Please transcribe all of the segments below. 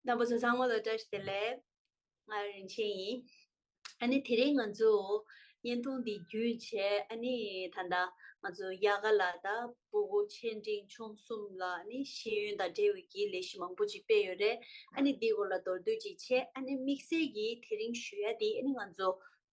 ནང་པ་ཚོ་བཟང་མོ་ལོ་ཀྲ་ཞིག་དེ་ལས། ང་རིན་ཆེན་ཡིན། ཨ་ནི་དེ་རིང་ང་ཚོ་བརྙན་ཐུང་འདི་བརྒྱུད་ཆེད་ཨ་ནི་ད་ལྟ་ང་ཚོ་ཡ་ག་ལ་ད་སྤུ་གུ་ཆེ་འབྲིང་ཆུང་གསུམ་ལ་ཨ་ནི་ཤེས་ཡོན་དང་འབྲེལ་བའི་གི་ལས་གཞི་མང་པོ་ཅིག་སྤེལ་ཡོད་རེད་ཨ་ནི་འདི་སྐོར་ལ་མདོར་བསྡུས་ཅིག་བྱེད་ཨ་ནི་དམིགས་བསལ་གྱིས་དེ་རིང་ཞུ་ཡ་དེ་ཨ་ནི་ང་ཚོ་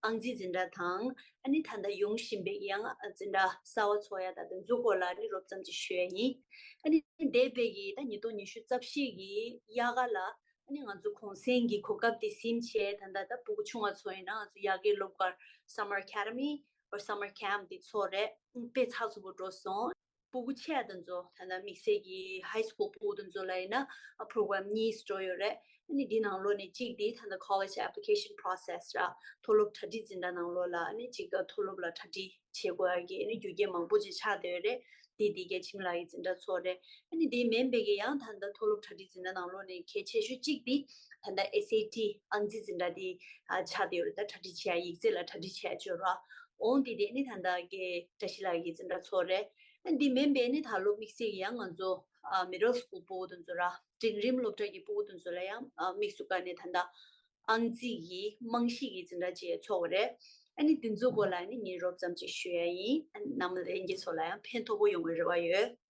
ཨང་རྩིས་འཛིན་གྲྭ་དང། ཨ་ནི་ད་ལྟ་ཡོང་བཞིན་པའི་ཡང་འཛིན་གྲྭ་གསར་བ་ཚོ་ཡང་ད་ལྟ་འཛུགས་སྐོར་ལ་ནི་རོབ་ཙམ་ཅིག་ཤོད་ཡ་ཡིན། ཨ་ནི་འདས་པའི་ཡི་ད་ཉིས་སྟོང་ཉི་ཤུ་རྩ་བཞི་ཡི་དབྱར་ཀ་ལ། ཨ་ནི་ང་ཚོ་གུང་སེང་གི་གོ་སྐབས་དེ་ཟིན་རྗེས་ད་ད་ད་པུ་ཆུང་བ་ཚོ་ཡིན་ན་ང་ཚོ་ཡར་རྒས་སློབ་གར། Summer Academy། Or Summer Camp། དེ་ཚོ་རེད་དཔེ་ཚགས་ཚུད་པོ་འགྲོ་སོང། སྤོ་སྒུ་ཆེ་དང་ཚོ་ཐ་ན་དམིགས་བསལ་གྱི High School སྤོ་སྒུ་དང་ཚོ་ལ་ཡིན་ན Program གཉིས་སྤྲོད་ཡོད་རེད། དེའི་ནང་ལོ་ནས་གཅིག་དེ་ཐ་ན College Application Process ར་མཐོ་སློབ་གྲ་སྒྲིག་འཛིན་གྲྭ་ནང་ལོ་ལ་གཅིག་མཐོ་སློབ་ལ་གྲ་སྒྲིག་བྱེད་དགོས་ཡག་གི་རྒྱུ་རྐྱེན་མང་པོ་ཅིག་ཆགས་བསྡད་ཡོད་རེད། དེ་དེ་གའི་ཁྱིམ་ལ་ཡི་འཛིན་གྲྭ་ཚོ་རེད། དེ་མིན་པའི་གི་ཡང་ཐ་ན་མཐོ་སློབ་གྲ་སྒྲིག་འཛིན་གྲྭ་ནང་ལོ་ནས་གལ་ཆེ་ཤོས་གཅིག་དེ་ཐ་ན SAT ཨང་རྩིས་འཛིན་གྲྭ་དེ་ཆགས་བསྡད་ཡོད་རེད་ད་གྲ་སྒྲིག་བྱེད་ཡག་ཡིག་རྩིས་ལ་གྲ་སྒྲིག་བྱེད་ཡག་བཅོས་ར་འོང་དེ་དེ་ནི་ད་ལྟ་གི་བཀྲ་ཤིས་ལགས་ཀྱི་འཛིན་གྲྭ་ཚོ་རེད། འདི་མིན་པའི་ནི་ད་ལོ་དམིགས་བསལ་གྱི་ཡང་ང་ཚོ Middle School སྤོ་བོ་དོན་གཙོ་ར་འབྲིང་རིམ་སློབ་གྲྭ་གྱི་སྤོ་བོ་དོན་གཙོ་ལ་ཡང་དམིགས་སུ་བཀར་ནས་ད་ལྟ་ཨང་རྩིས་ཀྱི་རྨང་གཞི་ཡི་འཛིན་གྲྭ་བཅས་ཚོགས་པ་རེད། ཨ་ནི་འདི་ཚོའི་སྐོར་ལ་ནི་ངས་རོབ་ཙམ་ཅིག་ཞུ་ཡ་ཡིན། ཨ་ནི་ནམ་ལངས་རྒྱ་མཚོ་ལ་ཡང་ཕན་ཐོགས་པོ་ཡོང་བའི་རེ་བ་ཡོད།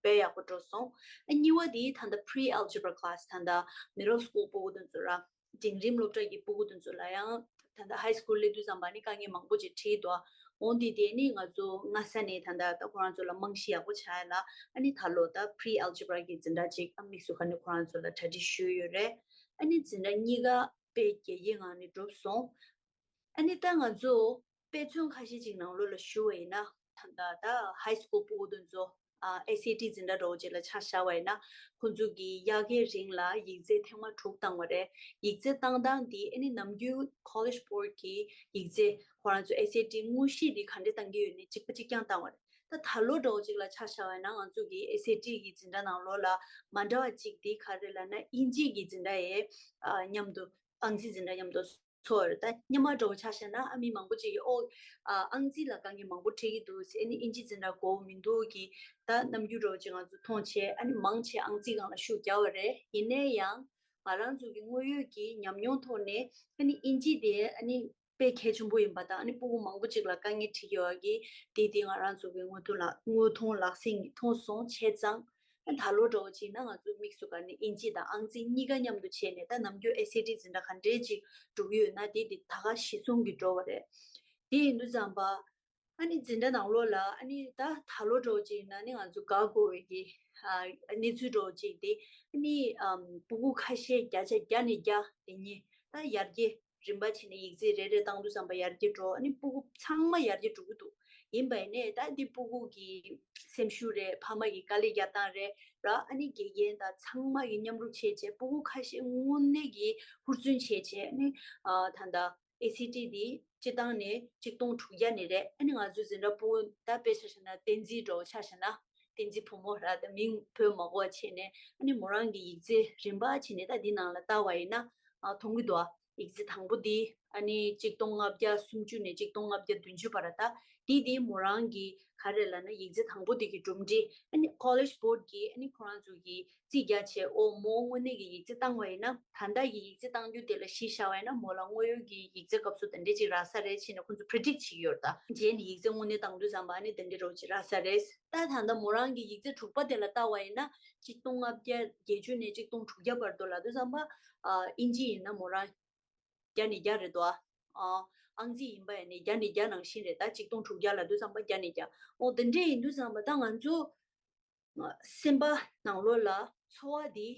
དཔེ་ཡག་པོ་འགྲོ་སོང། གཉིས་བ་དེ་ད་ལྟ Pre Algebra Class ད་ལྟ Middle School སྤུ་གུ་དོན་གཙོ་ར། འབྲིང་རིམ་སློབ་གྲྭ་གི་སྤུ་གུ་དོན་གཙོ་ལ་ཡང་ད་ལྟ High School སླེབས་དུས་བསམ་པ་ནི་དཀའ་ངལ་མང་པོ་ཅིག་འཁྲིས་འདུག་འོང་དུས་དེ་ནི་ང་ཚོ་སྔ་ས་ནས་ད་ལྟ་ཁོ་རང་ཚོ་ལ་རྨང་གཞི་ཡག་པོ་བྱས་ལ་ཨ་ནི་ད་ལོ་ད Pre Algebra གི་འཛིན་གྲྭ་གཅིག་དམིགས་སུ་ཁ་ནི་ཁོ་རང་ཚོ་ལ་གྲ་སྒྲིག་ཞུས་ཡོད་རེད། ཨ་ནི་འཛིན་གྲྭ་གཉིས་ཀ་དཔེ་དགེ་དགེ་ངང་ནས་འགྲུབ་སོང། ཨ་ནི་ད་ང་ཚོ་དཔེ་མཚོན་ཁ་ཤས་ཅིག་ནང་ལོ་ལ་ཞུ་བ་ཡིན་ན། ཐ་ན་ད་ཧའི་སི་ཁོ་པུའུ་དོན་གཙོ ACT འཛིན་གྲྭ་རོགས་བྱེད་ལ་ཆ་བཞག་བ་ཡིན་ན། ཁོ་ཚོ་གིས་དབྱར་ཁའི་རིང་ལ་ཡིག་རྩལ་ཐེངས་མ་དྲུག་བཏང་བ་རེད། ཡིག་རྩལ་བཏང་སྟངས་འདི་ཨེ་ནི་ནམ་རྒྱུན College Board གི་ཡིག་རྩལ་ཁོ་རང་ཚོའི ACT དངོས་གཞི་འདི་ག་འདྲས་བཏང་གི་ཡོད་ནི་གཅིག་པ་གཅིག་རྐྱང་བཏང་བ་རེད། ད་ད་ལོ་རོགས་བྱེད་ལ་ཆ་བཞག་བ་ཡིན་ན་ང་ཚོ་གི ACT གི་འཛིན་གྲྭ་ནང་ལོ་ལ་མ་འདྲ་བ་གཅིག་འདི་ག་རེད་ལ་ན་དབྱིན་ཇིས་གི་འཛིན་གྲྭ་ཡའི་མཉམ་དུ་ཨང་རྩིས་འཛིན་གྲྭ་མཉམ་དུ། ཚོར་ད་སྙམ་མ་འགྲོ་བ་ཆགས་བཤད་ན་ཨ་མི་མང་པོ་ཅིག་གིས་ཨོ། ཨང་རྩིས་ལ་དཀའ་ངལ་མང་པོ་འཕྲད་ཀྱི་འདུག་ཟེར་ནི་ཨིན་ཇི་འཛིན་ར་གོ་བ་མི་འདུག་གི་ད་རྣམ་འགྱུར་རོ་ཅིག་ང་ཚོ་མཐོང་ཆེ་ཨ་ནི་མང་ཆེ་ཨང་རྩིས་སྒང་ལ་ཤུགས་རྒྱག་བ་རེད་ཡིན་ནའི་ཡང། ང་རང་ཚོ་གི་དངོས་ཡོད་ཀྱི་ཉམས་མྱོང་ཐོག་ནས་ཨ་ནི་ཨིན་ཇི་དེ་ཨ་ནི་དཔེ་གལ་ཆེན་པོ་ཡིན་པ་དང་ཨ་ནི་སྤུ་བོ་མང་པོ་ཅིག་ལ་དཀའ་ངལ་འཕྲད་ཀྱི་ཡོད་གི་དེ་དེ་ང་རང་ཚོ་གི་དངོས་མཐོང་ལག་ཟིན་གྱི་མཐོང་སོང་ཆེ་ཙང། ད་ལོ་འགྲོ་བ་ཅིག་ན་ང་ཚོའི་དམིགས་སུ་བཀར་ནས་དབྱིན་ཇི་དང་ཨང་རྩིས་གཉིས་ཀ་མཉམ་དུ་བྱས་ནས་ད་ནམ་རྒྱུན་ཨེ་སི་ཏི་འཛིན་གྲྭ་ག་འདྲའི་ཅིག་གྲུབ་ཡོད་ན་དེ་དེ་ད་ག་གཞི་བཟུང་གི་འགྲོ་བ་རེད། དེ་ཡིན་དུ་བརྩམས་པ། ཨ་ནི་འཛིན་གྲྭ་ནང་ལོགས་ལ་ཨ་ནི་ད་ད་ལོ་འགྲོ་བ་ཅིག་ན་ནི་ང་ཚོ་དགའ་དགོས་འོས་ཀྱི་གནས་ཚུལ་འགྲོ་བ་ཅིག་དེ་ཨ་ནི་སྤུ་གུ་ཁ་ཤས་བརྒྱ་ཆ་བརྒྱ་ནས་བརྒྱ་དེ་གཉིས་ད་ཡར་རྒྱས། རིམ་པ་ཕྱེ་ནས་ཡིག་རྩིས་རེ་རེ་བཏང་དུས་བསམ་པ་ཡར་རྒྱས་འགྲོ་ཨ་ནི་སྤུ་གུ་ཚང་མ་ཡར་རྒྱས་འགྲོ་གི་འདུག་ཡིན་པ་ཡིན་ནས་ད་འདི་སྤུ་གུ་གི་སེམས་ཤུགས་རེད་ཕ་མ་གི་དཀའ་ལས་རྒྱག་སྟངས་རེད་ལ་ཨ་ནི་དགེ་རྒན་དང་ཚང་མ་གི་མཉམ་རུབ་བྱས་རྗེས་སྤུ་གུ་ཁ་ཤས་དངོས་གནས་ཀྱི་ཧུར་བརྩོན་བྱས་རྗེས་ཨ་ནི་ད་ལྟ ACT འདི་སྤྱི་བཏང་ནས་གཅིག་སྟོང་དྲུག་བརྒྱ་ནས་རེད་ཨ་ནི་ང་ཚོའི་འཛིན་གྲྭ་སྤུ་གུ་ད་དཔེ་ཆ་བྱས་ན་བསྟན་འཛིན་འདྲ་བོ་ཆགས་བྱས་ན། བསྟན་འཛིན་བུ་མོ་ར་ད་མིང་བོད་མགོ་བ་བྱས་ནས་ཨ་ནེ་མོ་རང་གི་ཡིག་རྩེ་རིན་པ་བྱས་ནས་ད་འདི་ནང་ལ་བལྟ་བ་ཡིན་ན་མཐོང་གི་འདུག་ཡིག་རྩེ་དང་པོ་འདི་ཨ་ནེ་གཅིག་སྟོང་ལྔ་བརྒྱ་སུམ་ཅུ་ནས་གཅིག་སྟོང་ལྔ་བརྒྱ་བདུན་ཅུ་བར་ད་འདི་འདི་མོ་རང་གི་ག་རེ་ལ་ན་ཡིག་རྩེ་དང་པོ་འདི་གི་གྲུབ་འབྲི་ཨ་ནེ College Board གིས་ཨ་ནེ་ཁོ་རང་ཚོ་གི་རྩིས་རྒྱ་ཆེ་ཨོ་མོ་དངོས་གནས་ཀྱི་ཡིག་རྩིས་བཏང་བ་ཡིན་ན་ད་ལྟ་ཡི་ཡིག་རྩིས་བཏང་རྒྱུ་དེ་ལ་གཞི་བཞག་བས་ན་མོ་ལ་དངོས་ཡོད་ཀྱི་ཡིག་རྩིས་སྐབས་སུ་དེ་འདྲའི་ཅིག་རག་ས་རེད་ཕྱིས་ནས་ཁོ་ཚོ predict བྱེད་ཀྱི་ཡོད་རྟ། རྗེས་ནས་ཡིག་རྩིས་དངོས་གནས་བཏང་དུས་བསམ་པ་ནི་དེ་འདྲའི་རོ་ཅིག་རག་ས་རེད། ད་ད་ལྟ་མོ་རང་གི་ཡིག་རྩིས་དྲུག་པ་དེ་ལ་བལྟ་བ་ཡིན་ན། གཅིག་སྟོང་ལྔ་བརྒྱ་བརྒྱད་ཅུ་ནས་གཅིག་སྟོང་དྲུག་བརྒྱ་བར་དུ་ལ་དུས་བསམ་པ། ཨིན་ཇི་ཡིན་ན་མོ་རང། བརྒྱ་ནས་བརྒྱ་རེད་དོ། ཨང་རྩིས་ཡིན་པ་ཡིན་ནས་བརྒྱ་ནས་བརྒྱ་ནང་བཞིན་རེད་དཱ་གཅིག་སྟོང་དྲུག་བརྒྱ་ལ་དུས་བསམ་པ་བརྒྱ་ནས་བརྒྱ། ཨོ་དེ་འདྲས་ཡིན་དུས་བསམ་པ་ད་ང་ཚོ། སེམས་པ་ནང་ལོག་ལ་འཚོ་བ་འདི།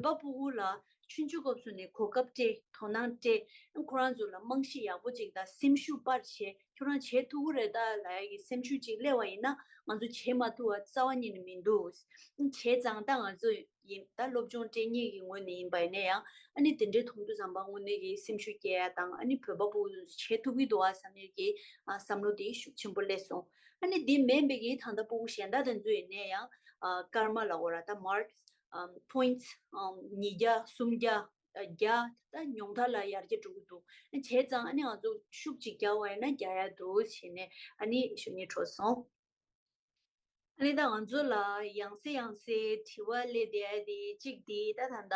བོད་པ་པོ་དབུ་ལ་ཆུ་འཇུག་སྐབས་སུ་ནི་གོ་སྐབས་སྤྲད་དོ་སྣང་སྤྲད། ཁོ་རང་ཚོ་ལ་རྨང་གཞི་ཡག་པོ་ཅིག་དང་སེམས་ཤུགས་སྤར་བྱེད་ཁྱོད་རང་བྱེད་ཐུབ་ཀི་རེད་ད་ལ་ཡ་གི་སེམས་ཤུགས་ཅིག་སླེ་བ་ཡིན་ན་ང་ཚོ་བྱེད་མ་ཐུབ་བ་རྩ་བ་ཉིད་ནས་མི་འདུག་བྱས་ཙང་ད་ང་ཚོ་ཡིན་ད་སློབ་སྦྱོང་སྤྲད་ཉེས་ཀྱི་ངོས་ནས་ཡིན་པ་ཡིན་ན་ཡང་ཨ་ནི་དེ་འདྲའི་དུང་དུ་བཟང་པ་དངོས་གནས་ཀྱི་སེམས་ཤུགས་སྐྱེ་ཡ་དང་ཨ་ནི་བོད་པ་པོ་དབུ་ཚོ་བྱེད་ཐུབ་ཀི་འདུག་བསམ་ཡས་ཀྱི་བསམ་བློ་དེ་ཤུགས་ཆེན་པོ་སླེ་སོང། ཨ་ནི་འདི་མེད་འབི་གིས་ད་ལྟ་སྤོ་བོ་གཞན་དག་དང་འཛུལ་ཡིན་ནས་ཡང Karma ལ་འོ་ར་ད Marks Points ཉིས་བརྒྱ་སུམ་བརྒྱ་བརྒྱ་ད་ལྟ་ཉུང་མཐའ་ལ་ཡར་རྒྱས་འགྲོ་གི་འདུག་བྱས་ཙང་ཨ་ནི་ང་ཚོ་ཤུགས་གཅིག་རྒྱག་བ་ཡིན་ན་རྒྱག་ཡ་འདུག་བྱས་ནས་ཨ་ནི་གཞོན་ནུའི་གྲོགས་སོང། ཨ་ནི་ད་ང་ཚོ་ལ་ཡང་སེ་ཡང་སེ་དྲི་བ་གླེ་བསྡད་དེ་གཅིག་འདི་ད་ད་ལྟ་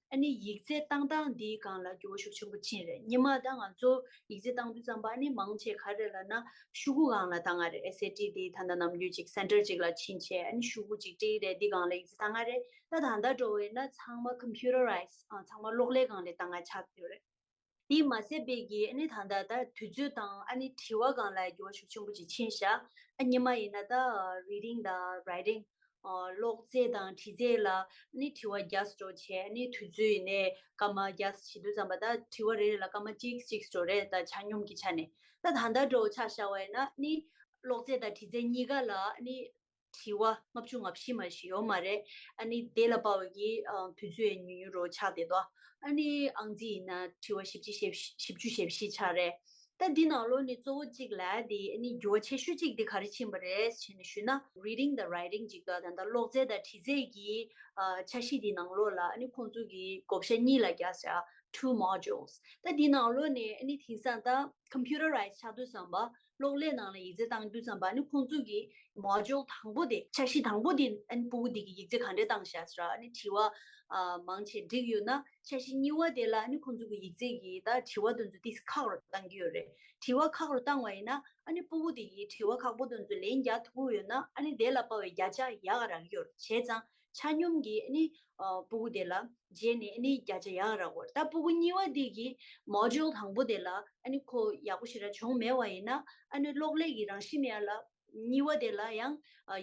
ཨ་ནི་ཡིག་རྩལ་བཏང་སྟངས་འདིའི་སྒང་ལ་འགྱུར་བ་ཤུགས་ཆེན་པོ་ཕྱིན་རེད་ཉི་མ་ད་ང་ཚོ་ཡིག་རྩལ་བཏང་དུས་རྩམ་པ་ནི་མང་ཆེ་ག་རེ་ལ་ན་ཤུ་གུ་སྒང་ལ་ད་ང་རེ་ཟེ་བྲིས་འདི་ད་ད་ནམ་རྒྱུན་ཅིག་སན་ཏར་ཅིག་ལ་ཕྱིན་ཆེ་ཨ་ནི་ཤུ་གུ་ཅིག་བྲིས་རེད་འདི་སྒང་ལ་ཡིག་རྩལ་ད་ང་རེ་ད་ད་ད་འགྲོ་བས་ན་ཚང་མ Computerized ཨང་ཚང་མ་གློག་ཀླད་སྒང་ལས་ད་ང་ཆགས་ཡོད་རེད། དེས་མ་ཟད་དཔལ་གྱི་ཨ་ནི་དང་ད་ལྟ་དུས་ཚོད་དང་ཨ་ནི་དྲི་བ་གང་ལ་འགྱུར་བ་ཤུགས་ཆེན་པོ་ཅིག་ཕྱིན་ཤག་ཨ་ཉི་མ་ཡིན་ན་ད Reading དང Writing ཀློག་རྩེ་དང་བྲི་རྩེ་ལ་ཨ་ནི་དྲི་བ་བརྒྱ་སོ་དྲུག་བྱས་ཨ་ནི་དུས་ཚོད་ཡིན་ནའི་སྐར་མ་བརྒྱ་སོ་བཞི་བདུན་ཙམ་པ་ད་དྲི་བ་རེ་རེ་ལ་སྐར་མ་གཅིག་གཅིག་སོ་དྲུག་རེད་ད་ཆ་སྙོམས་ཀྱི་ཆ་ནས་ད་ད་ལྟ་འགྲོ་བ་ཆགས་ཤག་བ་ཡིན་ན་ཨ་ནི་ཀློག་རྩེ་དང་བྲི་རྩེ་གཉིས་ཀ་ལ་ཨ་ནི་དྲི་བ། ལྔ་བཅུ་ང་བཞི་མ་བཞི་ཡོད་མ་རེད། ཨཱ་ནི། དེ་ལ་དཔའ་བོ་ཡི། དུས་ཚོད་ཡིན་ཉུལ་ཉུལ་རོ་ཆགས་བསྡད་དོ། ཨཱ་ནི། ཨང་རྩིས་ཡིན་ན་དྲི་བ་བཞི་བཅུ་ཞེ་བཞི་ཆགས་རེད། ད་འདི་ནང་ལོ་ནི་གཙོ་བོ་གཅིག་ལ་དེ་ཨཱ་ནི་འགྱུར་བ་ཆེ་ཤོས་གཅིག་དེ་ག་རེ་ཕྱིན་པ་རེད་ཞེས་ནས་ཞུས་ན། Reading དང Writing གཅིག་དང་ད་ལྟ་ཀློག་རྩལ་དང་བྲིས་རྩལ་གྱི། འཆར་གཞི་དེ་ནང་ལོ་ལ་ཨཱ་ནི་ཁོང་ཚོ་གི་བགོ་བཤའ་གཉིས་ལ་རྒྱག་བྱ། Two Modules། ད་འདི་ནང་ལོ་ནས་ཨཱ་ནི་དེང་སང་ད Computerized ཆགས་འདུག་བསམ་པ། གློག་ཀླད་ནང་ལ་ཡིག་རྩལ་བཏང་རྒྱུ་ཙམ་པ་ནི་ཁོང་ཚོ་གི Module དང་པོ་དེ། འཆར་གཞི་དང་པོ་དེ་ཨན་པུའུ་དེ་གི་ཡིག་རྩལ་ག་འདྲས་བཏང་ཞེས་ར་ཨ་ནི་དྲི་བ་མང་ཆེ་བསྒྲིགས་ཡོད་ན་འཆར་གཞི་གཉིས་བ་དེ་ལ་ཨ་ནི་ཁོང་ཚོ་གི་ཡིག་རྩལ་གི་ད་དྲི་བ་དོན་ཚོ་དེ་ཁག་རུ་བཏང་གི་ཡོད་རེད་དྲི་བ་ཁག་རུ་བཏང་བ་ཡིན་ན་ཨ་ནི་པུའུ་དེ་གི་དྲི་བ་ཁག་པོ་དོན་ཚོ་ལན་རྒྱག་ཐུབ་པོ་ཡོད་ན་ཨ་ནི་དེ་ལ་དཔའ་བའི་བརྒྱ་ཆ་ཡག་རག་ཡོད་རེད་བྱས་ཙང་ཆ་སྙོམས་ཀྱི་ནི། སྤུ་གུ་དེ་ལ་རྗེས་ནི་ནི་བརྒྱ་ཆ་ཡག་ར་གོ། ད་སྤུ་གུ་གཉིས་བ་དེ་གི་མའོ་ཅོག་དང་པོ་དེ་ལ་ནི་ཁོ་ཡག་པོ་ཞིག་ར་བྱུང་མེད་བ་ཡིན་ན། ནི་གློག་ཀླད་ཀྱི་རང་བཞིན་ནི་ལ། གཉིས་བ་དེ་ལ་ཡང་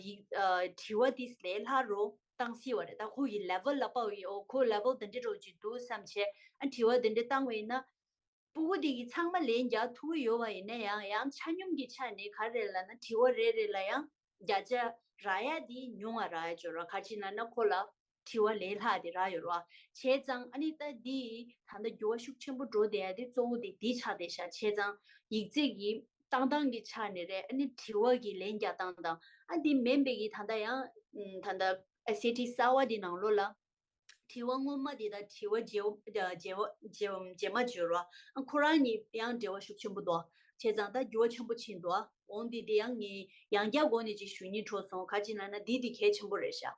ཡིག། དྲི་བ་དེ་ལས་སླར་རོ་བཏང་སྲིད་བ་རེད་ད་ཁོ་གི level ལ་དཔའ་བའི་ཨོ་ཁོ level དེ་འདྲའི་རོ་ཅིག་འདུག་བསམ་བྱས། དྲི་བ་དེ་འདྲའི་བཏང་བས་ན། སྤུ་གུ་དེ་ཡིས་ཚང་མ་ལན་རྒྱག་ཐུ་བོ་ཡོད་བ་ཡིན་ན་ཡང་ཡང་ཆ་སྙོམས་ཀྱི་ཆ་ནས་གར་རེད་ལ་ན་དྲི་བ་རེ་རེ་ལ་ཡང་རྒྱ་ཆ་རག་ཡ་དེ་ཉུང་བ་རག་ཡ་འཇོག་རོགས་ག་ཅིག་ན་ན་ཁོ་ལ་དྲི་བ་ལས་ལྷག་དེ་རག་ཡོད་རོགས་བྱས་ཙང་ཨ་ནི་ད་དེ་ད་ལྟ་འགྱུར་བ་ཤུགས་ཆེན་པོ་འགྲོ་བསྡད་ཡ་དེ་གཙོ་བོ་དེ་དེ་ཆགས་བསྡད་ཤག་བྱས་ཙང་ཡིག་རྩིས་ཀྱི་གཏང་སྟངས་ཀྱི་ཆ་ནས་རེད་ཨ་ནི་དྲི་བ་གི་ལན་རྒྱག་སྟངས་དང་ཨ་དེ་མེན་པེ་ཀི་ད་ད་ཡང་ད་ད་ཨ་སེ་ཏི་གསར་བ་དེ་ནང་ལོ་ལ་དྲི་བ་སྔོན་མ་དེ་དང་དྲི་བ་རྗེས་མ་བརྗོད་རོགས། ཁོ་རང་ནི་ཡང་འབྲེལ་བ་ཤུགས་ཆེན་པོ་འདུག་བྱས་ཙང་ད་འགྱུར་བ་ཆེན་པོ་ཕྱིན་འདུག་འོང་འདི་དེ་ཡང་ངས་ཡང་བསྐྱར་གོ་ནས་ཅིག་ཞུ་ཉིད་འཕྲོག་སོང་ག་ཅིག་ལ་ན་འདི་དེ་གལ་ཆེན་པོ་རེད་ཤག།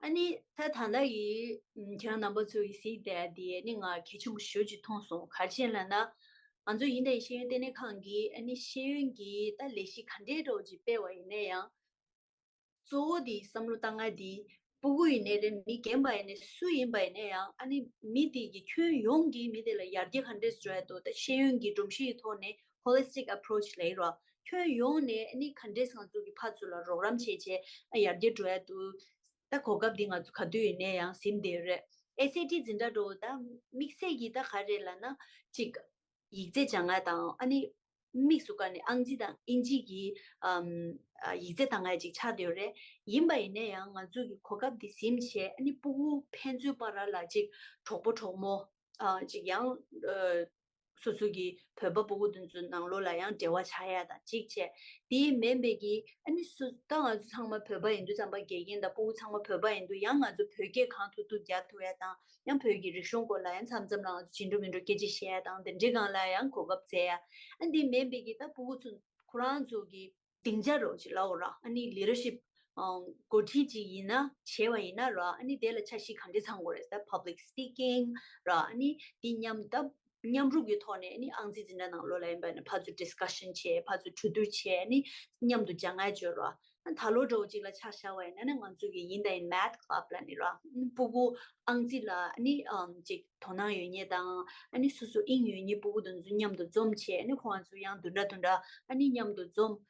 ཨ་ནི་ད་ད་ལྟ་ཡི་ཁྱེད་རང་རྣམ་པ་ཚོ་ཡི་གཟིགས་དེ་དེ་ནི་ང་གལ་ཆེན་པོ་ཞུ་ཅིག་མཐོང་སོང་ག་ཅིག་ལ་ན། ང་ཚོ་ཡིན་དང་ཤེས་ཡོན་ལྟེ་གནས་ཁང་གིས་ཨ་ནི་ཤེས་ཡོན་གྱི་ད་ལས་གཞི་ག་འདྲའི་ཐོག་ཅིག་སྤེལ་བ་ཡིན་ན་ཡང། གཙོ་བོ་དེའི་བསམ་བློ་ལྟ་སྔ་དེས་སྤུ་གུ་ཡི་ནད་དེ་མི་རྒན་པ་ཡིན་ནས་སུ་ཡིན་པ་ཡིན་ན་ཡང་ཨ་ནི་མི་དེ་ཀྱི་ཁྱོན་ཡོངས་ཀྱིས་མི་དེ་ལ་ཡར་རྒྱས་ག་འདྲས་བཟོས་འདུག་ད་ཤེས་ཡོན་གྱི་སྒྲོམ་གཞི་ཡི་ཐོག་ནས Holistic Approach ལས་རོགས་ཁྱོན་ཡོངས་ནས་ཨ་ནི་ག་འདྲས་ང་ཚོ་གི་ཕ་ཚོ་ལ་རོགས་རམ་བྱས་བྱས་ཨ་ཡར་རྒྱས་འགྲོ་ཡ་འདུག་ད་གོ་སྐབས་འདི་ང་ཚོ་ག་དུས་ཡིན་ནས་ཡང་ཟིན་བསྡད་ཡོད་རེད SAT འཛིན་གྲྭ་འགྲོ་འདའ་དམིགས་བསལ་གྱིས་ད་ག་རེད་ལ་ན་གཅིག་ཡིག་རྩེད་སྦྱང་ངག་དང། དམིགས་སུ་བཀར་ནས་ཨང་རྩིས་དང་དབྱིན་ཇི་གི་ཡིག་རྩེད་དང་ངག་ཅིག་ཆགས་འདོད་རེད། ཡིན་པ་ཡིན་ན་ཡང་ང་ཚོ་གི་གོ་སྐབས་འདི་ཟིམ་བྱས་ཨ་ནི་སྤུ་བོ་ཕན་ཚུན་དཔའ་ར་ལ་ཅིག་གྲོགས་པོ་གྲོགས་མོ་ཅིག་ཡང། སོ་སོ་གི་བོད་པ་སྤུ་བོ་དེ་ཚོ་ནང་ལོགས་ལ་ཡང་འབྲེལ་བ་ཆགས་ཡ་དང་ཅིག་བྱས་དེ་མེད་མེད་ཀྱི་ཨ་ནི་སོ་ད་ང་ཚོ་ཚང་མ་བོད་པ་ཡིན་འདུག་ཙམ་པ་འགལ་རྐྱེན་དང་སྤུ་བོ་ཚང་མ་བོད་པ་ཡིན་འདུག་ཡང་ང་ཚོ་བོད་སྐད་གང་ཐུབ་ཐུབ་རྒྱབ་ཐུབ་ཡ་དང། ཡང་བོད་ཀྱི་རིག་གཞུང་སྐོར་ལ་ཡང་མཚམས་མཚམས་ལའང་ཇི་འགྲོ་མི་འགྲོ་སྐད་ཆ་བཤད་ཡ་དང་འདི་འདྲི་གང་ལ་ཡང་གོ་སྐབས་བཙལ་ཡ། ཨ་འདི་མེད་འབད་ཀྱིས་ད་སྤུ་གུ་ཚོ་ཁོ་རང་ཚོ་གི། སྡིངས་ཆ་རོགས་ཅིག་ལའོ་ར་ཨ་ནི Leadership། འགོ་ཁྲིད་ཅིག་ཡིན་ན་བྱེད་པ་ཡིན་ན་ར་ཨ་ནི་དེ་ལ་ཆ་ཤིག་ག་འདྲི་ཚང་དགོས་རེད་ད Public Speaking། ར་ཨ་ནི་འདི་སྙམ་ད་མཉམ་རུབ་ཀྱི་ཐོག་ནས་ཨང་རྩིས་འཛིན་གྲྭ་ནང་ལོ་ལ་ཡིན་པ་ནས་ཕར་ཚུར Discussion བྱས་ཕར་ཚུར་གྲོས་བསྡུར་བྱས་མཉམ་དུ་བྱ་ངན་བརྗོད་རོགས། ད་ལོ་དྲ་བ་གཅིག་ལ་ཆགས་བཞག་བ་ཡིན་ན་ང་ཚོ་གི་ཡིན་ད་ཡིན Math Club ལ་ནི་རོགས། སྤུ་གུ་ཨང་རྩིས་ལ་ཅིག་དོ་སྣང་ཡོད་ངེས་དང། སུ་སུ་དབྱིངས་ཡོད་ངེས་སྤུ་གུ་དང་མཉམ་དུ་འཛོམས་བྱས་ཁོང་ཚོ་ཡང་དུ་འདྲ་དུ་འདྲ་མཉམ་དུ་འཛོམས།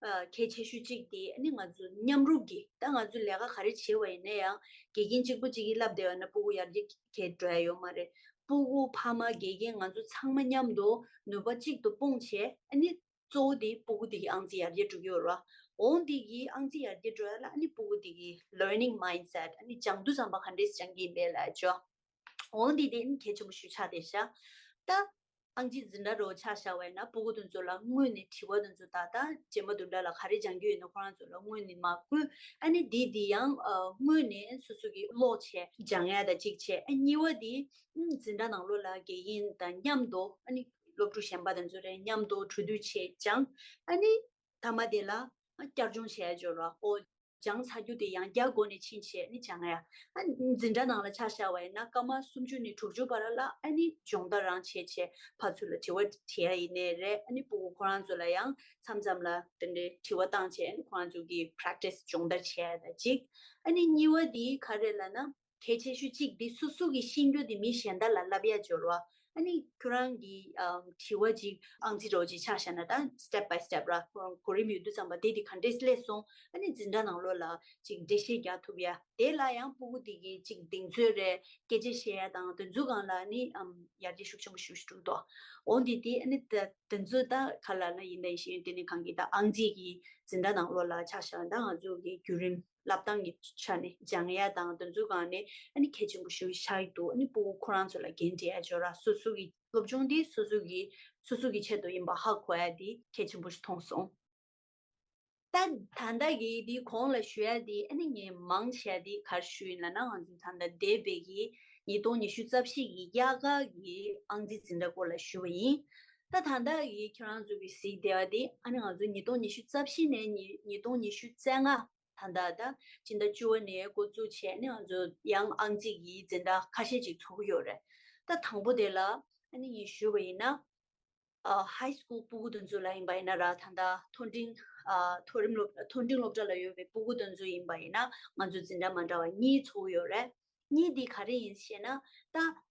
གལ་ཆེ་ཤོས་གཅིག་དེ་ནི་ང་ཚོ་མཉམ་རུབ་ཀྱིས་ད་ང་ཚོས་ལས་ཀ་ག་རེ་བྱེད་པ་ཡིན་ན་ཡང་དགེ་རྒན་གཅིག་པོ་གཅིག་གིས་བསླབས་བསྡད་པ་ན་སྤུ་གུ་ཡར་རྒྱས་གས་འགྲོ་ཡ་ཡོད་མ་རེད། སྤུ་གུ་ཕ་མ་དགེ་རྒན་ང་ཚོ་ཚང་མ་མཉམ་དུ་ནུས་པ་གཅིག་ཏུ་སྤུངས་བྱས་ཨ་ནི་གཙོ་བོ་དེ་སྤུ་གུ་དེ་གི་ཨང་རྩིས་ཡར་རྒྱས་འགྲོ་གི་ཡོད་རོ། འོང་དེ་གི་ཨང་རྩིས་ཡར་རྒྱས་འགྲོ་ཡ་ལ་ཨ་ནི་སྤུ་གུ་དེ་གི learning mindset ཨ་ནི་སྦྱང་དུ་བསམ་པ་ག་འདྲས་སྦྱང་གི་ཡིན་པའི་ལ་ཅོ། ཝང་དེ་དེན་གལ་ཆེན་པོ་ཞུ་ཆགས་དེ་ཤ་ཏ། ཨང་ཅིག་འཛིན་གྲྭ་རོ་ཆགས་ཤ་བས་ན་པོ་གོ་དོན་ཚོ་ལ་དངོས་ནས་དྲི་བ་དོན་ཚོ་ད་ད་རྗེས་མ་དུ་འདྲ་ལ་ག་རེ་སྦྱང་རྒྱུ་ཡོད་ན་ཁོ་རང་ཚོ་ལ་དངོས་ནས་མ་བསྐུལ་ཨ་ནི་འདི་འདི་ཡང་དངོས་ནས་སོ་སོ་གིས་ཀློག་བྱས། སྦྱང་ཡ་ད་ཅིག་བྱས་ཨ་གཉིས་བ་དེ་འཛིན་གྲྭ་ནང་ལོ་ལ་རྒས་ཡིན་ད་མཉམ་དུ་ཨ་ནི་སློབ་ཕྲུག་གཞན་པ་དོན་ཚོ་རེ་མཉམ་དུ་གྲོས་བསྡུར་བྱས་སྦྱང་ཨ་ནི་ཐ་མ་དེ་ལ་བསྐྱར་སྦྱོང་བྱས་སྦྱོར་བ་ཨོ། སྦྱང་ཚར་རྒྱུ་དེ་ཡང་བརྒྱ་སྒོ་ནས་ཕྱིན་ཞེས་ནི་བྱ། འཛིན་གྲྭ་ནང་ལ་ཕྱག་བཞག་བ་ཡིན་ན་སྐར་མ་སུམ་ཅུ་ནས་དྲུག་ཅུ་བར་ལ་ཨ་ནི་སྦྱོང་བརྡར་རང་བྱེད་བྱེད་ཕ་ཚུ་ལ་དྲི་བ་དྲིས་ཨ་ཡི་ནས་རེ་ཨ་ནི་པུའུ་ཁོ་རང་ཚོ་ལ་ཡང་མཚམས་མཚམས་ལ་དེ་འདྲའི་དྲི་བ་བཏང་བྱས་ཨ་ནི་ཁོ་རང་ཚོ་གིས practice སྦྱོང་བརྡར་བྱས་ད་ཅིག་ཨ་ནི་གཉིས་བ་དེ་ག་རེ་ལ་ན། གལ་ཆེ་ཤོས་གཅིག་འདི་སུ་སུ་གི་ཤེས་འགྱོ་འདི་མི་གཞན་དག་ལ་ལབ་ཡ་སྦྱོར་བ་ཨ་ནི་ཁྱོད་རང་གི་དྲི་བ་གཅིག་ཨང་རྩིས་རོགས་གཅིག་ཆགས་ཤ་ན་དང step by step ར་གོ་རིམ་ཡོད་དུ་ཙམ་པ་དེ་དེ་ག་འདྲས་སླེ་སོང་ཨ་ནི་འཛིན་གྲ་ནང་ལོ་ལ་གཅིག་འགྲེལ་བཤད་རྒྱག་ཐུབ་ཡ་དེ་ལ་ཡང་སྤུ་གུ་དེ་གི་གཅིག་གདེང་ཚོད་རེ་སྐད་ཆ་བཤད་ཡ་དང་དོན་ཚུལ་གང་ལ་ཨ་ནི་ཡར་རྒྱས་ཤུགས་ཆེན་པོ་ཞུ་ཞུ་འགྲོ་འདུག་འོང་དེ་དེ་ཨ་ནི་དོན་ཚུལ་ད་ག་ལ་ན་ཡིན་ད་ཡིན་ཤེས་ཡོན་ལྟེ་གནས་ཁང་གི་ད་ཨང་རྩིས་གི་འཛིན་གྲ་ནང་ལོ་ལ་ཆགས་ཤ་ན་དང་ང་ཚོ་གི་རྒྱུད་རིམ། ལབ་སྟངས་ཀྱི་ཆ་ནས་སྦྱང་ཡ་དང་འདོན་ཚུལ་གང་ནི་ཨ་ནི་གལ་ཆེན་པོ་ཞུ་ཤག་ཡི་འདུག་ཨ་ནི་པུའུ་ཁོ་རང་ཚོ་ལ་འགན་དྲི་ཡ་ཆོག་ར་སོ་སོ་གི་སློབ་སྦྱོང་དེ་སོ་སོ་གི་སོ་སོ་གི་ཆེད་དུ་ཡིན་པ་ཧ་གོ་ཡ་དེ་གལ་ཆེན་པོ་ཞིག་མཐོང་སོང། ད་ད་ལྟ་གི་དེ་གོང་ལ་ཞུ་ཡ་དེ་ཨ་ནི་ངས་མང་ཆེ་བ་དེ་གར་ཞུ་ཡིན་ལ་ན་ང་ཚོས་ད་ལྟ་འདས་པའི་གི་ཉིས་སྟོང་ཉི་ཤུ་རྩ་བཞི་གི་དབྱར་ཁར་གི་ཨང་རྩིས་འཛིན་གྲྭ་སྐོར་ལ་ཞུ་བ་ཡིན། ད་ཐང་བདག་གིས་ཁྱེད་རང་ཚོ་གི་གཟིགས་བདེ་བ་དེ་ཨ་ནེ་ང་ཚོ་ཉིས་སྟོང་ཉི་ཤུ་རྩ་བཞི་ནས་ཉིས་སྟོང་ཉི་ཤུ་རྩེ་ལྔ་ཐང་བདག་ད་སྤྱི་ཟླ་བཅུ་བ་ནས་འགོ་འཛུགས་བྱས་ནས་ང་ཚོ་ཡང་ཨང་གཅིག་གིས་འཛིན་བདག་ཁ་ཤས་ཅིག་ཚུགས་ཡོད་རེད་ད་ཐང་པོ་དེ་ལ་ཨ་ནེ་ཉི་ཤུ་བ་ཡིན་ན High School སྤུ་གུ་དོན་འཛུགས་ལ་ཡིན་པ་ཡིན་ན་ར་ཐང་བདག་མཐོ་འབྲིང་མཐོ་རིམ་སློབ་མཐོ་འབྲིང་སློབ་གྲྭ་ལ་ཡོད་པའི་སྤུ་གུ་དོན་འཛུགས་ཡིན་པ་ཡིན་ན་ང་ཚོ་འཛིན་གྲྭ་མ་འདྲ་བ་གཉིས་ཚུགས་ཡོད་རེད་གཉིས་དེ་ག་རེ་ཡིན་ཞེས་ན་ད་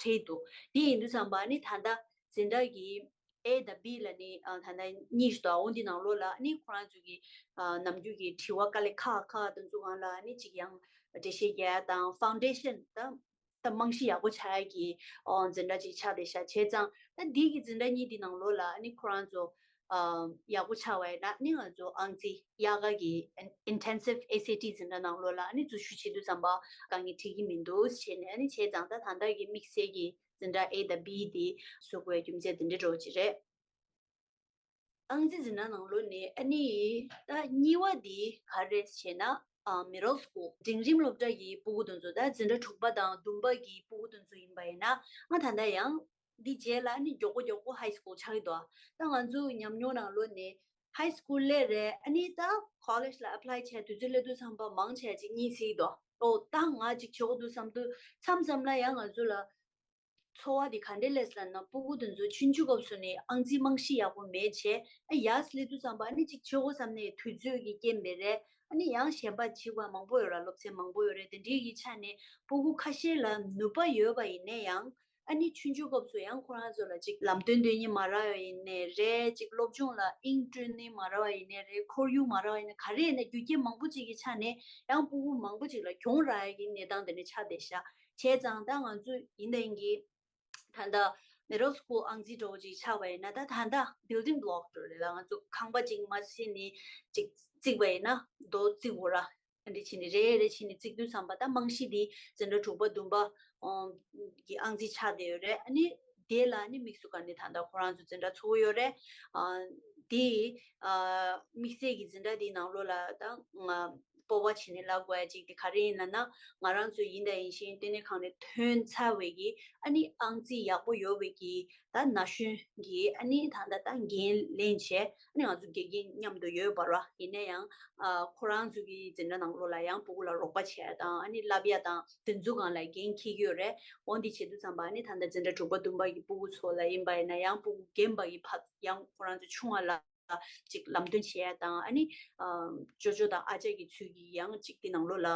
བྲིས་འདུག་འདི་ཡིན་དུས་ཚང་པ་ནི་ད་ལྟ་འཛིན་བདག་གི A དང B ལ་ནི་ད་ལྟ་གཉིས་ཤིག་འདུག་འོན་ཏེ་ནང་ལོགས་ལ་ནི་ཁོ་རང་ཚོ་གི་ནམ་རྒྱུན་གྱི་དྲི་བ་དཀའ་ལས་ཁག་ཁག་དང་འཛུགས་ཁང་ལ་ནི་གཅིག་ཡང་འབྲེལ་བཤད་རྒྱ་དང Foundation དང་རྨང་གཞི་ཡག་པོ་ཆགས་ཡ་གི་འཛིན་གྲྭ་གཅིག་ཆགས་ཏེ་བྱ་བྱས་ཙང་ད་འདི་གི་འཛིན་གྲྭ་གཉིས་འདི་ནང་ལོགས་ལ་ནི་ཁོ་རང་ཚོ་ཡག་པོ་ཆགས་བས་ན་ནི་ང་ཚོ་ཨང་རྩིས་དབྱར་ཁར་གྱི Intensive ACT འཛིན་གྲྭ་ནང་ལོ་ལ་ནི་རྫུ་ཤུ་བྱེད་དུས་བརྩམས་པ་གང་གི་འགྲིག་གི་མི་འདུག་ཟེར་ནས་ནི་བྱས་ཙང་ད་ད་ལྟར་གྱི་དམིགས་བསལ་གྱི་འཛིན་གྲྭ A དང B དེ་ཟུག་བའི་རྒྱུ་མཚན་དེ་འདྲའི་འགྲོ་ཅི་རེད། ཨང་རྩིས་འཛིན་གྲྭ་ནང་ལོ་ནི་ནི་ད་གཉིས་བ་དེ་ག་རེད་ཟེར་ན Middle School འབྲིང་རིམ་སློབ་གྲྭ་གྱི་སྤུ་གུ་དོན་གཙོ་ད་འཛིན་གྲྭ་དྲུག་པ་དང་བདུན་པ་གྱི་སྤུ་གུ་དོན་གཙོ་ཡིན་པ་ཡིན་ན་ང་ད་ལྟ་ཡང་འདི་རྗེས་ལ་ནི་མགྱོགས་པོ་མགྱོགས་པོ high school ཆགས་ཀྱི་འདུག་ད་ང་ཚོའི་ཉམས་མྱོང་ནང་ལོ་ནི high school ལས་རེད་ཨ་ནི་ད college ལ apply བྱས་དུས་ཚོད་སླེབས་དུས་བསམ་པ་མང་བྱས་རྗེས་གཉིད་སད་ཀྱི་འདུག་ཨོ་ད་ང་ཅིག་བྱེད་ཨོ་དུ་བསམ་དུས་མཚམས་མཚམས་ལ་ཡང་ང་ཚོ་ལ། འཚོ་བ་འདི་ག་འདྲས་ལས་སླ་ན་སྤུ་གུ་དེ་ཚོ་ཕྱི་འཇུག་སྐབས་སུ་ནི་ཨང་རྩིས་རྨང་གཞི་ཡག་པོ་མེད་བྱས་ཨ་ཡག་སླེབས་དུས་བསམ་པ་ཨ་ནི་ཅིག་བྱེད་ཨོ་བསམ་ནས་དུས་ཚོད་ཀྱི་རྐྱེན་པས་རེད་ཨ་ནི་ཡང་གཞན་པ་འཇིགས་པ་མང་པོ་ཡོད་ར་སློབ་ཚན་མང་པོ་ཡོད་རེད་དེ་འདྲའི་ཡིག་ཆ་ནི་སྤུ་གུ་ཁ་ཤས་ལ་ནུས་པ་ཡོད་པ་ཡིན་ནས་ཡང་ཨ་ནི་ཆུ་མཇུག་སྐབས་སུ་ཡང་ཁོ་རང་ཚོ་ལ་ཅིག་ལམ་སྟོན་འདོན་ཉིན་མ་རག་བ་ཡིན་ནི་རེད་ཅིག་སློབ་སྦྱོང་ལ་དབྱིངས་སྤྲོད་ནི་མ་རག་བ་ཡིན་ནི་རེད་ཁོར་ཡུག་མ་རག་བ་ཡིན་ནི་ག་རེ་ཡིན་ནི་རྒྱུ་རྐྱེན་མང་པོ་ཅིག་གི་ཆ་ནས་ཡང་སྤུ་བོ་མང་པོ་ཅིག་ལ་གྱོང་རག་ཡ་གི་གནས་སྟངས་དེ་ནི་ཆ་དེ་བཞག་བྱས་ཙང་ད་ང་ཚོ་ཡིན་ད་ཡིན་གི། ད་ལྟ Middle School ཨང་རྩིས་འདྲ་བོ་ཅིག་ཆགས་པ་ཡིན་ན་ད་ད་ལྟ Building Block དུ་རེད་ད་ང་ཚོ་ཁང་པ་ཅིག་མ་ཟིན་ནི་ཅིག་བརྩིགས་པ་ཡིན་ན་རྡོ་བརྩིག་འོ་ར་རེ་ཕྱིན་ནི་རེ། རེ་ཕྱིན་ནི་ཚིག་བདུན་ཚང་པ་དང་རྨང་གཞི་དེ་ཟེར་འདྲ་དྲུག་པ་བདུན་པ། གི་ཨང་རྩིས་ཆགས་བསྡད་ཡོད་རེད་ཨ་ནི། དེ་ལ་ནི་དམིགས་སུ་བཀར་ནས་ད་ལྟ་ཁོ་རང་ཚོ་འཛིན་གྲྭ་ཚུགས་ཀྱི་ཡོད་རེད། དེ། དམིགས་བསལ་གྱི་འཛིན་གྲྭ་དེའི་ནང་ལོགས་ལ་ད། སྤོ་བ་བྱས་ནས་ལབ་དགོས་ཡ་ཅིག་དེ་ག་རེ་ཡིན་ལ་ན། ང་རང་ཚོས་ཡིན་དང་ཡིན་ཤེས་ཡོན་ལྟེ་གནས་ཁང་ནས་ཐོན་ཚར་བའི་གི་ཨ་ནི་ཨང་རྩིས་ཡག་པོ་ཡོད་བའི་གི་ད་ན་གཞོན་གི་ཨ་ནི་ད་ལྟ་ད་འགན་ལེན་བྱས། ང་ཚོ་དགེ་རྒན་མཉམ་དུ་ཡོད་པར་ཡིན་ན་ཡང། ཁོ་རང་ཚོ་གི་འཛིན་གྲྭ་ནང་ལོགས་ལ་ཡང་བུ་གུ་ལ་རོགས་པ་བྱས་དང་ཨ་ནི་བསླབ་གཡའ་དང་སྡིགས་མཛུ་གང་ལ་འགན་ཁྱེད་ཡོད་རེད་འོང་འདི་བྱེད་དུ་ཚང་པ་ཨ་ནི་ད་ལྟ་འཛིན་གྲྭ་དྲུག་པ་བདུན་པ་གི་བུ་གུ་ཚོ་ལ་ཡིན་པ་ཡིན་ན་ཡང་བུ་གུ་རྒན་པ་ཡི་བབས་ཡང་ཁོ་རང་ཚོ་ཆུང་བ་ལ་ཅིག་ལམ་སྟོན་བྱས་དང་ཨ་ནི། ཅོ་ཅོ་དང་ཨ་ཅག་གི་ཚུལ་གྱིས་ཡང་ཅིག་འདི་ནང་ལོགས་ལ།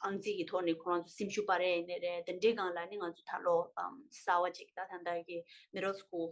ཨང་རྩིས་ཀྱི་ཐོག་ནས་ཁོ་རང་ཚོ་སེམས་ཤུགས་སྤར་ཡས་ནས་རེད་འདི་འདྲའི་སྒང་ལ་ཨ་ནི་ང་ཚོ་ད་ལོགས་གསར་བ་ཅིག་ད་ད་ལྟ་གི Middle School།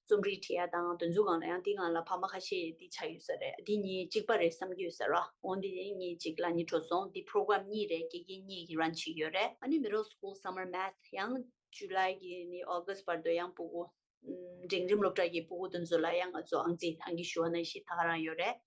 རྩོམ་རིག་དྲི་ཡ་དང་དོན་ཚུལ་གང་ལ་ཡང་དེ་གང་ལ་བག་མ་ཁ་ཤས་འདི་ཆགས་ཡོད་ས་རེད་འདི་གཉིས་གཅིག་པ་རེད་བསམ་གྱི་ཡོད་ས་རེད་འོན་ཏེ་འདི་གཉིས་གཅིག་ལ་གཉིས་འཕྲོ་སོང་འདི program གཉིས་རེད་དགེ་རྒན་གཉིས་ཀྱི་རང་གཅིག་ཡོད་རེད། ཨཱ་ནི middle school summer math ཡང July གི་ནི August བར་དུ་ཡང་སྤུ་གུ། འབྲིང་རིམ་སློབ་གྲྭ་གི་སྤུ་གུ་དོན་ཚུལ་ལ་ཡང་ང་ཚོ་ཨང་རྩིས་ཨང་ཀི་ཞུ་བ་ནང་བཞིན་ད་ག་རང་ཡོད་རེད།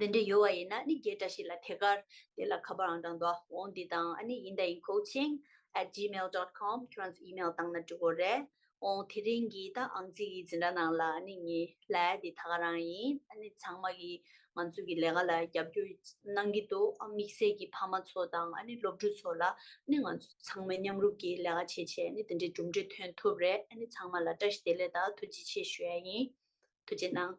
དེ་འདྲའི་ཡོལ་བ་ཡིན་ན་ནི་རྒྱས་བཀྲ་ཤིས་ལ་ཐད་ཀར་དེ་ལ་ཁ་པར་འང་དྲང་དོ་འོང་འདི་དང་ཨ་ནི་ཡིན་ད་ཡིན coaching at gmail dot com ཁྱོད་རང་ཚོ email བཏང་ན་འགྲིག་གོ་རེད་འོང་དེ་རིང་གི་ད་ཨང་རྩིས་ཀྱི་འཛིན་གྲྭ་ནང་ལ་ཨ་ནི་ངི་ལས་དེ་ད་ག་རང་ཡིན་ཨ་ནི་ཚང་མ་གི་ང་ཚོ་གི་ལས་ཀ་ལ་རྒྱབ་སྐྱོར་གནང་གི་འདུག་ཨ་དམིགས་བསལ་གྱི་ཕ་མ་ཚོ་དང་ཨ་ནི་སློབ་ཕྲུག་ཚོ་ལ་ཨ་ནི་ང་ཚོ་ཚང་མས་མཉམ་རུབ་ཀྱི་ལས་ཀ་བྱེད་ཆེད་ཨ་ནི་དེ་འདྲའི་གྲུབ་འབྲས་ཐོན་ཐུབ་རེད་ཨ་ནི་ཚང་མ་ལ་བཀྲ་ཤིས་བདེ་ལེགས་དང་ཐུགས་རྗེ་ཆེ་ཞུ་ཡ་ཡིན་ཐུགས་རྗེ་གནང།